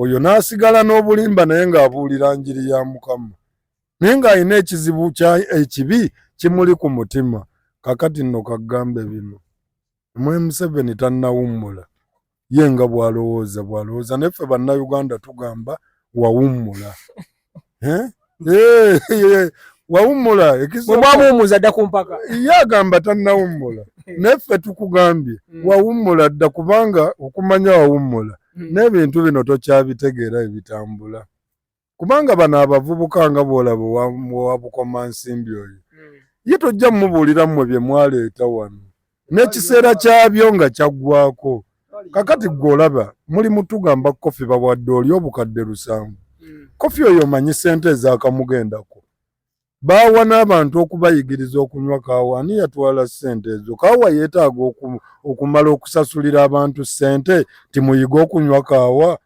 oyo n'asigala n'obulimba naye ng'abuulira njiri ya Mukama naye ng'alina ekizibu ekibi kimuli ku mutima. Kakati nno ka ggambe bino. Mwe Museveni tannawummula ye nga bw'alowooza bw'alowooza naye ffe bannayuganda tugamba wawummula eh? Eh, eh, wawummula ekizobwamuwummuza dda ku mpaka ye agamba tannawummula naye ffe tukugambye mm. wawummula dda kubanga okumanya wawummula mm. n'ebintu bino tokyabitegeera ebitambula kubanga bano abavubuka nga bwolaba owabukoma nsimbi oyo hmm. ye tojja mumubuulira mmwe bye mwaleeta wano n'ekiseera kyabyo nga kyaggwako kakati gwe olaba muli mutugamba kofi bawadde oli obukadde lusanvu hmm. kofi oyo omanyi sente ezakamugendako baawa n'abantu okubayigiriza okunywa kaawa ani yatwala sente ezo kaawa yeetaaga okumala okusasulira abantu sente timuyige okunywa kaawa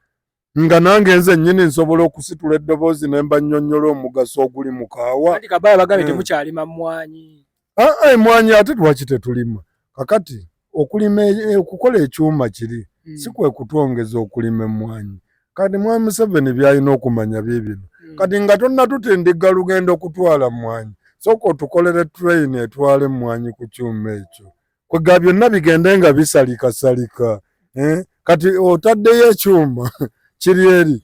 nga nange nze nyini nsobola okusitula eddoboozi ne mba nnyonnyola omugaso oguli mu kaawa kati kabaya bagambe hmm. temukyalima mmwanyi aa ah, ah, emwanyi ate lwaki tetulima kakati okulima e, e, okukola ekyuma kiri hmm. si kwe kutwongeza okulima emmwanyi kati mwami museveni byalina okumanya biibino hmm. kati nga tonnatutindigga lugenda okutwala mmwanyi sooka otukolere train etwala emmwanyi ku kyuma ekyo kwega byonna bigende nga bisalikasalika eh? kati otaddeyo ekyuma kiri eri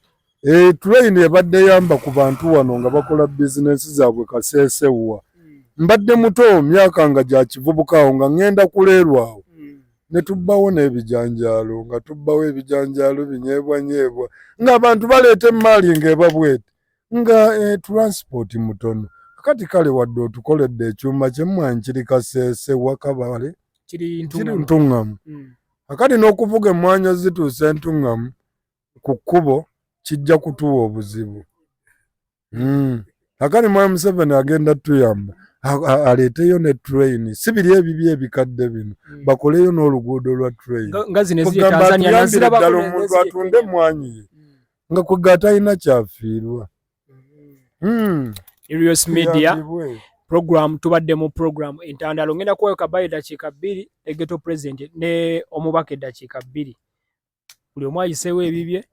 eh, tuleyini ebadde yamba ku bantu wano nga bakola bizinensi zaabwe kaseesewa hmm. mbadde muto myaka nga gya kivubuka awo nga ŋŋenda kuleerwa awo hmm. ne tubbawo n'ebijanjaalo nga tubbawo ebijanjaalo binyeebwanyeebwa ng'abantu baleeta emmaali ng'ebabwete nga eh, transport mutono kati kale wadde otukoledde ekyuma kyemwanyi kiri kaseese wakabale kiri ntuŋŋamu mm. akati n'okuvuga emmwanyi ozituusa entuŋŋamu ku kkubo kijja kutuwa obuzibu mm. akati mwami museveni agenda tuyamba aleeteyo ne train si biri ebibi ebikadde bino mm. bakoleyo n'oluguudo lwa train kugamba atuyambire ddala omuntu atunde emmwanyi ye nga kwega atalina kyafiirwa hmm. Irios Media program tubadde mu program entandalo ngenda kuwayo kabaye dakiika bbiri ne geto president ne omubaka eddakiika bbiri buli omu ayiseewo ebibye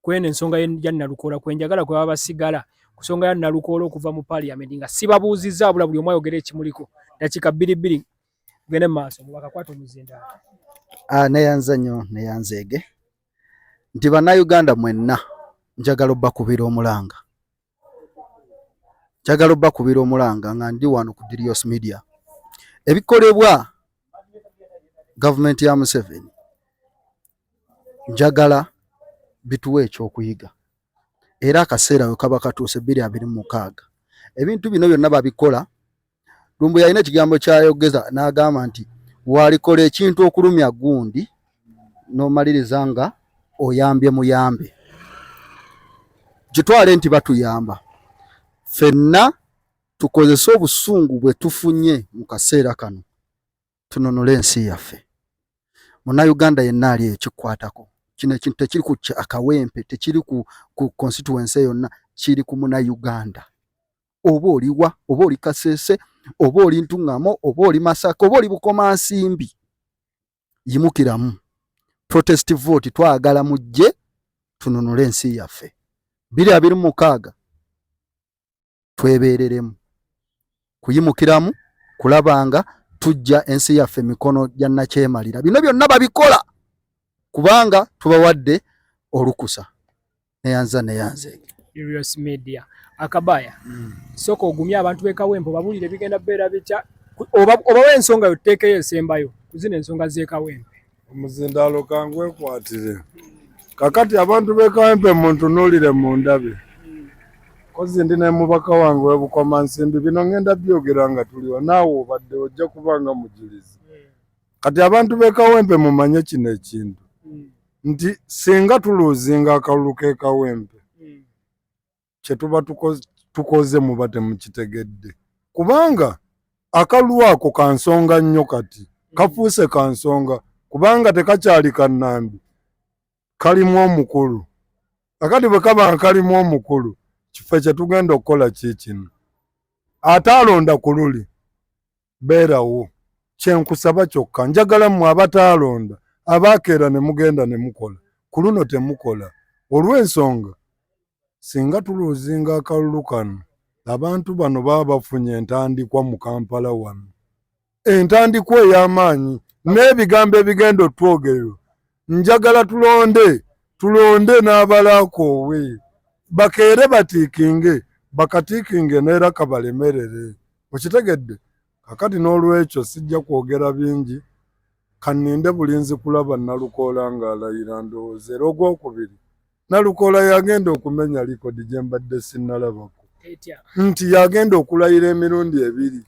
kweno ensonga ya nalukoola kwenjagala kwebaba basigala ku nsonga ya nalukoola okuva mu parliament nga sibabuuzizza abula buli omu ayogera ekimuliko dakiika bbiri bbiri gende mu maaso mubaka kwata omuzindaalo ah, neyanza nnyo neyanzeege nti bannayuganda mwenna njagala obbakubira omulanga njagala obbakubira omulanga nga ndi wano ku Dirios Media ebikolebwa gavumenti ya Museveni njagala bituwa ekyokuyiga era akaseera we kaba katuuse bbiri abiri mu mukaaga ebintu bino byonna babikola lumbu yalina ekigambo kyayogeza n'agamba nti walikola ekintu okulumya gundi n'omaliriza nga oyambye muyambe kitwale nti batuyamba fenna tukozese obusungu bwe tufunye mu kaseera kano tununule ensi yaffe munnayuganda yenna ali eyo kikwatako kino ekintu tekiri ku akawempe tekiri ku constituency yonna kiri ku munnayuganda oba oliwa oba oli kasese oba oli ntuŋŋamo oba oli masaka oba oli bukomansimbi yimukiramu protest vote twagala mujje tununule ensi yaffe biri abiri mukaaga twebeereremu kuyimukiramu kulabanga tujja ensi yaffe mikono gya nakyemalira bino byonna babikola kubanga tubawadde olukusa neyanza neyanze Urios Media akabaya mm. soko ogumya abantu bekawempo babulire bigenda bera bicha oba oba wensonga yoteke yesembayo kuzina ensonga zekawempo omuzindalo kangwe kwatire kakati abantu bekawempe muntu nulire mundabe kozi ndi ne mubaka wange webukoma nsimbi bino ngenda byogera nga tuliwa naawe obadde ojja kubanga mujulizi kati abantu bekawempe mumanye kino ekintu hmm. nti singa tuluzinga akalulu kekawempe hmm. kyetuba tukoze muba temukitegedde kubanga akalulu ako kansonga nnyo kati hmm. kafuuse kansonga kubanga tekakyali kanambi kalimu omukulu akati bwekaba nkalimu omukulu kife kyetugenda okukola kikino ate alonda ku luli beerawo kyenkusaba kyokka njagala mmwe abataalonda abaakeera ne mugenda ne mukola ku luno temukola olw'ensonga singa tuluuzinga akalulu kano abantu bano baba bafunye entandikwa mu Kampala wano entandikwa ey'amaanyi n'ebigambo ebigenda otwogererwa njagala tulonde tulonde n'abalakoowe bakeere batiikinge bakatiikinge neera kabalemerere okitegedde kakati n'olwekyo sijja kwogera bingi kaninde bulinzi kulaba nalukoola ng'alayira ndowooza era ogwokubiri nalukoola yagenda okumenya likodi gye mbadde sinnalabako nti yagenda okulayira emirundi ebiri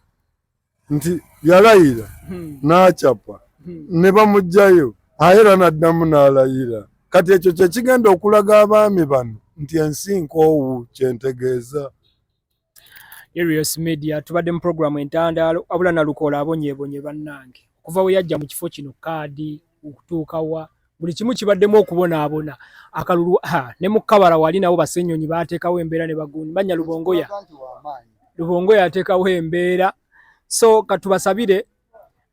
nti yalayira hmm. n'acapa hmm. ne bamugjayo ayera n'addamu n'alayira kati ekyo kyekigenda okulaga abaami bano nti ensi nkoowu kyentegeeza Erios Media tubadde mu programu entandaalo abula nalukola abonyebonye bannange okuva we yajja mu kifo kino kaadi okutuuka wa buli kimu kibaddemu okubonaabona akalulu ne mu kabara wali nabo basenyonyi baateekawo embeera ne bagundi manya lubongoya lubongoya ateekawo embeera so katubasabire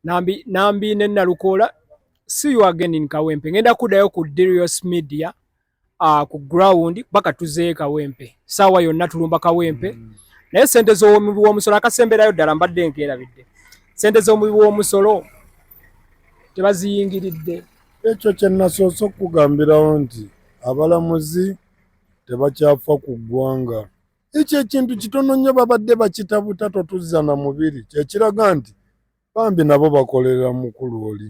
nambi nambi ne nalukoola see you again in kawempe ngenda kuddayo ku dirios media uh, ku ground baka tuze kawempe sawa yonna tulumba kawempe mm. naye sente zo omubi wo musolo akasemberayo dala mbadde nkeera bidde sente zo omubi wo musolo tebaziyingiridde ekyo kye nasoose okugambirawo nti abalamuzi tebakyafa ku ggwanga ekyo ekintu kitono nnyo babadde bakitabuta totuzza na mubiri kyekiraga nti bambi nabo bakolera mukulu oli